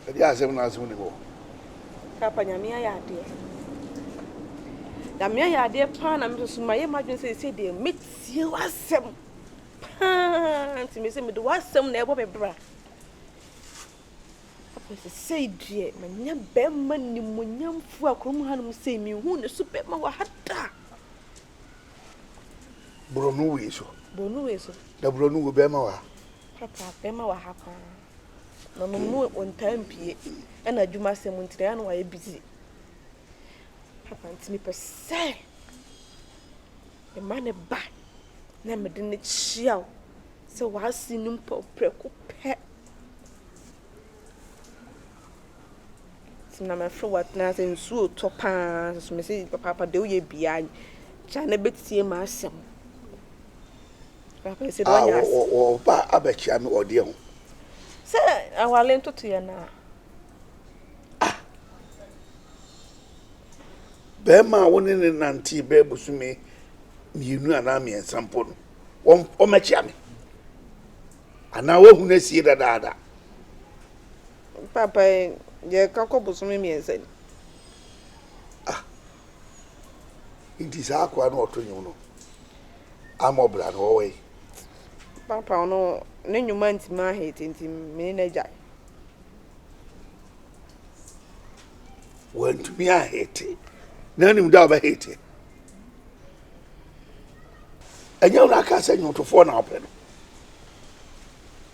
ɛde asɛm no ase wone hɔ. Papa nyame ayɛ adeɛ. Nyame ayɛ adeɛ paa na mesoso mayɛ m'adwene sɛ ɛsɛ deɛ mɛtie w'asɛm paa nti me sɛ mede w'asɛm na ɛbɔ me bra. Papa sɛ sei deɛ manya bɛrima nimonyamfo a kurom hanom sei mehu ne so bɛrima wɔ ha da. Boro no wei so. Boro no wei so. Na boro no wɔ bɛrima wɔ ha. Papa, bɛrima wɔ ha paa. Na ɔnom no ɔntaa mpie. Ɛna adwuma asɛm nti na ano wayɛ busy. Papa nti mepɛ sɛ mema ne ba na mede ne kyia wo sɛ w'ase no mpo prɛko pɛ. Nti na mɛfrɛ wo atena ase, nsuo retɔ pa ara nso mese papaapa deɛ woyɛ biara no gya na bɛtie m'asɛm. Papaapa ɛsɛ bɛnya ah, ase. Wɔba abɛkyea me ɔdeɛ ho. Sɛ awale ntotoeɛ no a. Ah, bɛrima a wo ne ne nantee bɛɛ bosome mmienu anaa mmiɛnsa mpo no, wɔmɛkyea me. Anaa woahu no asie dadaada? Papa, yɛka kɔ bosome mmiɛnsa ni. Ah, nti saa akoa no ɔto nnwom no amɔ bra no ɔwɔ yi? Papa, ɔno ne nnwom antimi ahete nti me ne no agyae. Wantumi ahete? Na wonim da a ɔbɛhete? ɛnyɛ wɔn aka sɛ nnwomtofoɔ na ɔpɛ no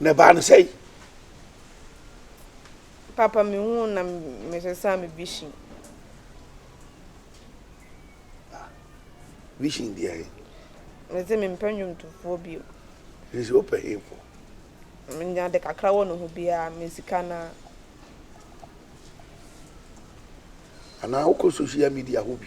na ɛbaa no sɛe papa mehu na mesesa me vision ah, vision deɛ he mese mempɛ nnwomtofoɔ bio sɛ wopɛ hefoɔ menya de kakra wɔ ne ho biara me sika no a anaa wokɔ social media hɔ bi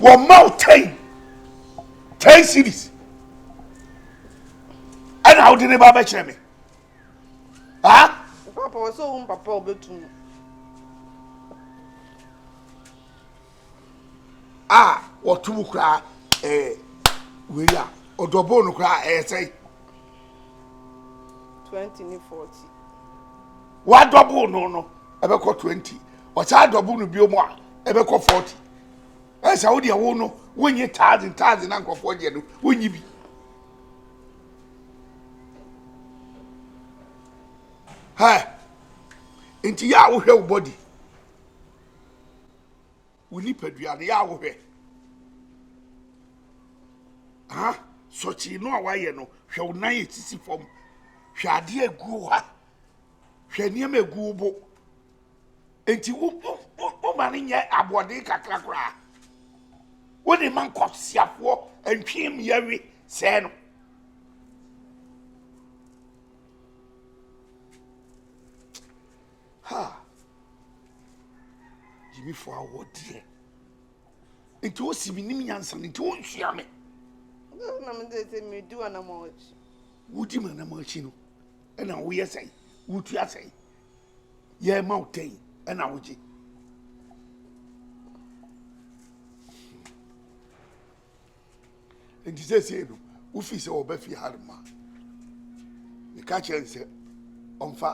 Wɔ ma wo ten ten series ɛna awode ne ba bɛkyerɛ me ha. papa wɔ sɛ ohun papa obetum. a wɔto mu koraa ɛɛ wei a ɔdɔbɔn no koraa ɛyɛ sɛ. twenty ne forty. wadɔbɔn no no ɛbɛkɔ twenty ɔsan adɔbɔn no bio mu a ɛbɛkɔ forty. Ɛyɛ sɛ wo deɛ wo no wonye thousand thousand na nkurɔfoɔ gyeɛ no wonyi bi. Hɛ nti yɛ a wohwɛ wo body wo nipadua no yɛ a wohwɛ ha sɔkyee no a wayɛ no hwɛ wo nan ɛsisi fam hwɛ adeɛ aguo ha hwɛ nneɛma aguo bo. Enti wo wo wo wo ma no nyɛ aboɔden kakra koraa. Wo de ma nkɔsiafoɔ ntwem yɛwe sɛɛ no. Ha! Gyimifoɔ awɔ deɛ. Enti wo si menim nyansa no nti wo nsua me. Na me de sɛ medi w'anamɔ akyi. Wodi m'anamɔ akyi no ɛna woyɛ sɛn? Wotua sɛn? yɛrema wo tɛn ɛna wogye nti sɛsei no wofi sɛ wɔba fie ha rema meka kyerɛ n sɛ ɔmfa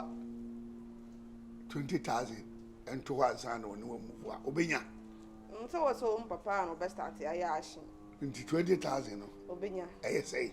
20000 ɛnto hɔ ansa na ɔne wamuvu a ɔbɛnya sɛ wɔ sɛ wɔn papa a na ɔbɛstate ayɛ ahye nti 20000 no ɔbɛnya ɛyɛ sɛe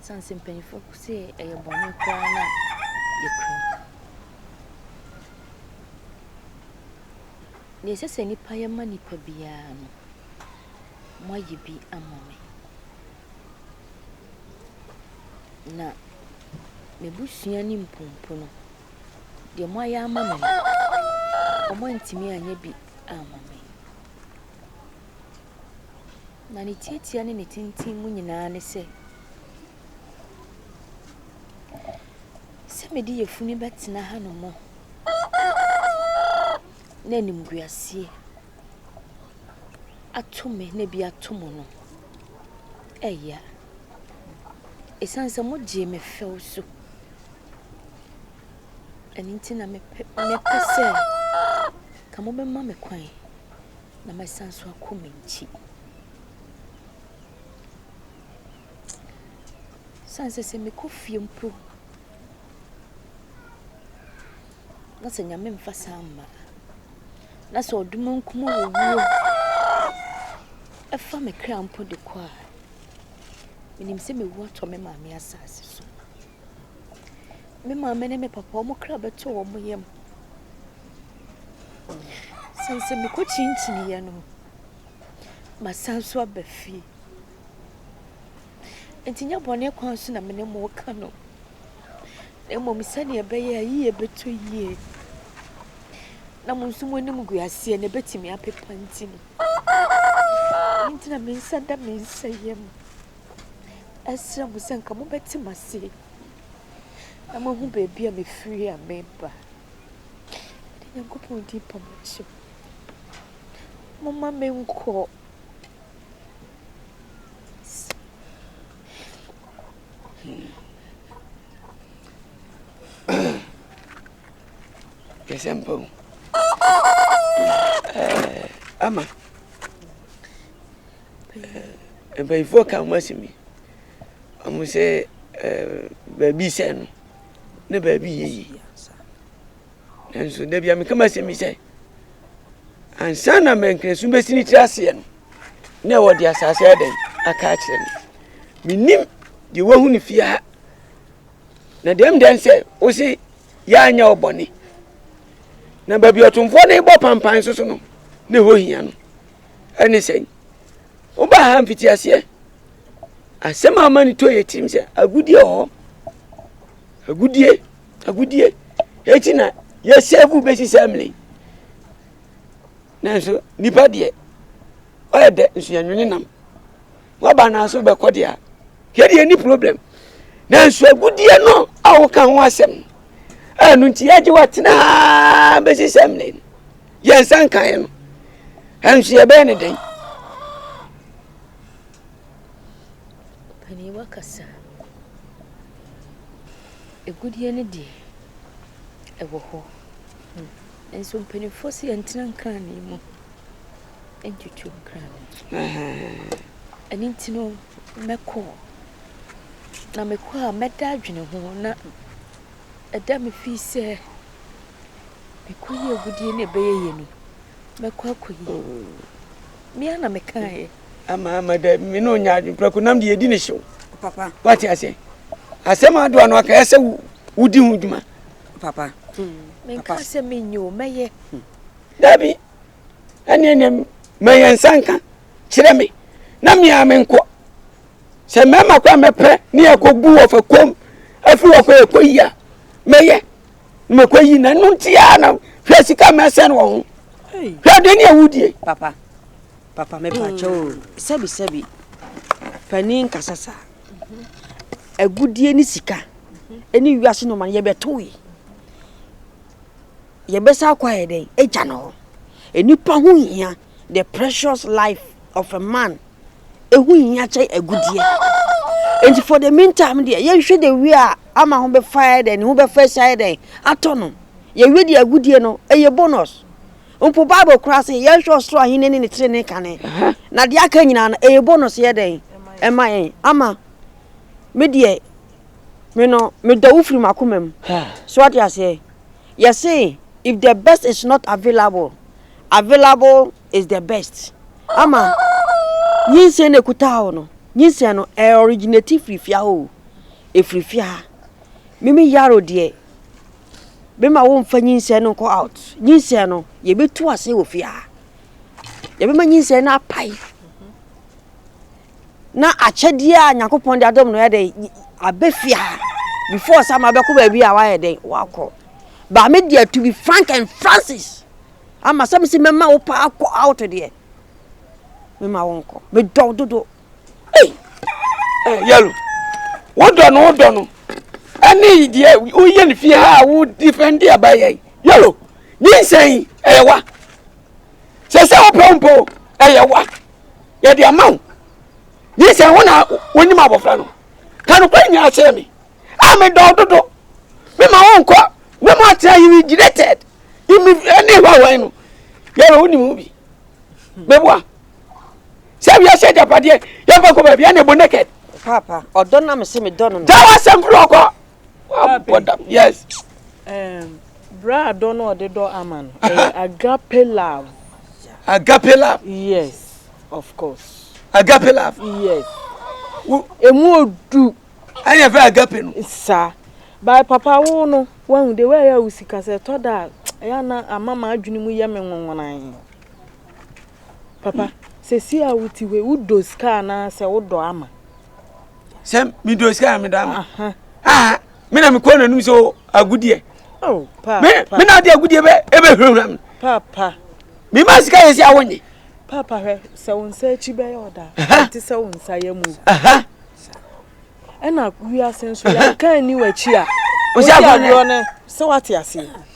Ɛsiane sɛ mpanyimfoɔ ko sɛ ɛyɛ bɔne koraa no a, yɛkura mu. Deɛ ɛsɛ sɛ nnipa yɛ ma nnipa biara no, moayɛ bi ama me. Na m'abusua ne mpompo no, deɛ moayɛ ama me no, wɔantumi anyɛ bi amma me. Na ne tiatia ne ne tintim mu nyinaa ne sɛ, sɛ mede yafunu bɛtena hanom na animguaseɛ ato me na bi ato mo no, ɛya. Ɛsiane sɛ mogyee me fɛw so. Ɛno nti na mepɛ sɛ ka mobɛma me kwan. na mɛsan so akɔ me nkyi. Ɔsiane sɛ sɛ mekɔ fie mpo na sɛ Nyame mfa saa amma a, na sɛ ɔdomunkum owuo fa me kra mpo de kɔ a, menim sɛ mewu atɔ me maame asase so. Me maame ne me papa, wɔn kra bɛtɔ wɔn yam. Sane sɛ mekɔkyinkyiniiɛ no, masan nso aba fie. Nti nyɛ bɔne kwan so na me ne mo reka no, na mmom sɛdeɛ ɛbɛyɛ a yie bɛtɔ yie na mo nso mo anim gu aseɛ na ɛbɛtumi apepa nti no. Ɛno nti na me nsa da me nsa yam. Ɛsrɛ mo sɛ nka mobɛte m'aseɛ na moahu baabi a mefiri a mereba. Mede Nyankopɔn din pa mo kyɛw. Momma menkɔ. Yɛsɛ mpa o. Ɛɛ, ama. Eh, mpanyinfoɔ ka ho asɛm bi. Wɔn sɛ eh, baabi sɛ no ne baabi yɛ yi. Nanso dabi a meka ma asɛm bi sɛ ansa na mɛnkrɛnso bɛsi ne tiri aseɛ no na ɛwɔ de asase ɛdɛn aka akyerɛ no menim deɛ wahu no fie ha na deɛm dɛn sɛ wo se yɛanyɛ wo bɔne na baabi ɔtomfoɔ no bɔ pampan so so no ne hɔ hia no Ɛne sɛn? Wobaa ha mfitiaseɛ. Asɛm a ama ne tɔ yɛ tirim sɛ agudie wɔ hɔ. Agudie, agudie. Eti na yɛsɛɛvu bɛsi sɛ mmere. Nanso nipa deɛ, ɔyɛ dɛ nso yɛnwene nam. Waba naa so bɛkɔ deɛ a, yɛdeɛ ni problem. Nanso agudie no a woka ho asɛm, ɛno nti yɛgye watena ha bɛsi sɛ mmere. Yɛn nsa nkaeɛ no, ɛnso yɛbɛyɛ ne dɛn? Panin wakasa. Ɛgudeɛ no deɛ, ɛwɔ hɔ. Hmm. Nso mpanimfoɔ sɛ yɛntena nkrane mu ntutu nkrane. Ɛno nti no, mɛkɔ. Na mekɔ a mɛda adwene ho na ɛda me fii sɛ Ɛkɔyi agudie na ɛbɛyɛ yɛ ni. Mɛkɔ akɔyi. Me ara na mekaeɛ. Ama ama dɛ me ne ɔnya adwemprɛko nam deɛ ɛdi ne hyew. Papa. Wate aseɛ. Asɛm a adoa no aka ɛsɛ wodi ho dwuma. Papa. Menka sɛ menyɛ o, mɛyɛ. Dabi. ɛne ne ma yɛn nsa nka kyerɛ me na mea menkɔ sɛ mmarima kɔ a mɛpɛ ne yɛkɔbu wɔ fa kom afiri wɔ kɔ yɛkɔ yi a mɛyɛ mɛkɔ yi na ɛno nti a na hwɛ sika mɛsɛn wɔ ho hwɛ de ne awudie papa papa mepaakyɛ o sɛbi sɛbi panin nkasa saa agudie ne sika ɛne wiase noma no yɛbɛtoe Yɛbɛsan akɔ ayɛ dɛn? Agya no hɔ. Nnipa ho hia the precious life of a man. Ehu hia kyɛn agudeɛ. Enti for the meantime deɛ yɛnhwɛ the way a ama ho bɛfa ayɛ dɛn ne ho bɛfa asi ayɛ dɛn atɔ no. Yɛwie deɛ agudeɛ no ɛyɛ bonus. Mpo Bible koraa sɛ yɛnhwɛ ɔsoro ahene ne ne trenee kane. Na deɛ aka nyinaa no ɛyɛ bonus yɛ dɛn ɛma yɛn ama me deɛ Me no, medɔ wo firi m'akoma mu. So wate aseɛ? Yɛse if the best is not available, available is the best. Ama nyinsɛn na ɛkutaa wo no, nyinsɛn no ɛ originate firi fia o, ɛfiri fia. Mimi yaro deɛ, bɛma wo mfa nyinsɛn no nkɔ out. Nyinsɛn no, yɛbɛtu ase wɔ fia. Yɛbɛma nyinsɛn no apae. na akyɛdeɛ a nyankopɔn de adom no yɛ dɛ abɛ fie ha before sɛ ama bɛkɔ baabi a wayɛ dɛn wakɔ ba me deɛ to be frank and francis ama sɛ mesi mɛma wo paa kɔ out deɛ mema wo nkɔ medɔ wo dodo ei eh, yɛlo wodɔ no wodɔ no ɛne deɛ woyɛ no fie ha a wo defend deɛ bayɛ yɛlo nyinsɛn ɛyɛ wa sɛ sɛ wopɛ wo mpo ɛyɛ wa yɛde ama wo gye sɛ wo na wonim abɔfra no ka nokware nyinaa kyerɛ me a medɔ wo dodo mema wo nkɔ na mo atena yi regretted imi ne hwahwan no yɛrɛ wonim ho bi bɛboa sɛ wiase agyapadeɛ yɛmfa kɔ baabi ɛne bo naked papa ɔdɔ na mese medɔ no no dawa sɛm korɔ kɔ Wabɔ da yes. Um, bra dɔ no ɔde dɔ ama no. Agape love. Agape love. Yes, of course. Agape love. Yes. Emu odu. Ɛyɛ fɛ agape no. Sa. By papa wo no, wahu de wɛ ya usi kasa tɔ da. Ɛyɛ na ama ma adwene mu yɛ me nwanwanan. Papa, sɛ si a wuti hwe, wudo sika na sɛ wodɔ ama. sɛ medɔ sika a meda ma ah, me na mekɔ n'anom sɛ oh, agudeɛ oh, me na ade agudeɛ ɛbɛhurahura me mema sika yɛ sɛ a wonye papa hwɛ sɛ wo nsa akyi bɛyɛ ɔda te sɛ wo nsa yɛ mu ɛna wiase nso yɛka ani w'akyi a wosɛ agorɔ no sɛ woate aseɛ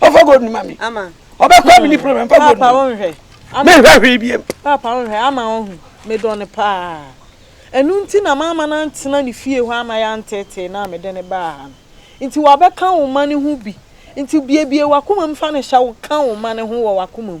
ɔfa gold no ma me ɔbɛkɔ a mene problem fa gold no menhwɛ hwee biam papa wonhwɛ ama wohu medɔ no paa ɛno nti na maama no antena ne fie hɔ ama yɛanteetee no a mede ne baa ha no nti wabɛka wo ma no ho bi nti biebie wakoma mu fa no hyɛ wo ka wo ma no ho wɔ wakoma mu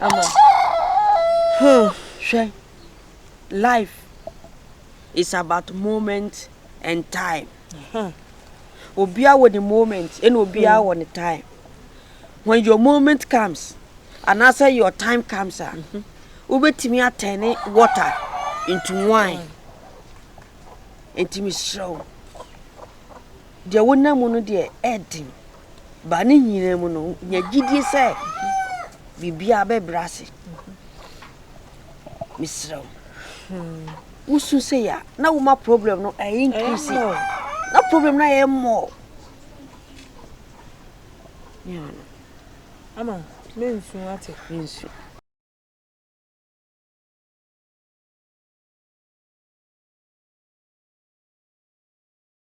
Ama. Hmm. Hwɛ. Life is about moment and time. Hmm. Obia wɔ ne moment ɛna obia hmm. wɔ ne time. When your moment comes and after your time comes a mm-hmm. wobɛtumi atɛne water into wine. Nti mesrɛ wo. deɛ wonam mu no deɛ ɛden ba ne nyinaa mu no nya gyidie sɛ biribiara bɛbrɛ ase mesrɛ wo hmm. wosu sɛ yɛ na woma problem no ɛyɛ increase na problem no ayɛ mmɔɔ ama mensu ate mensu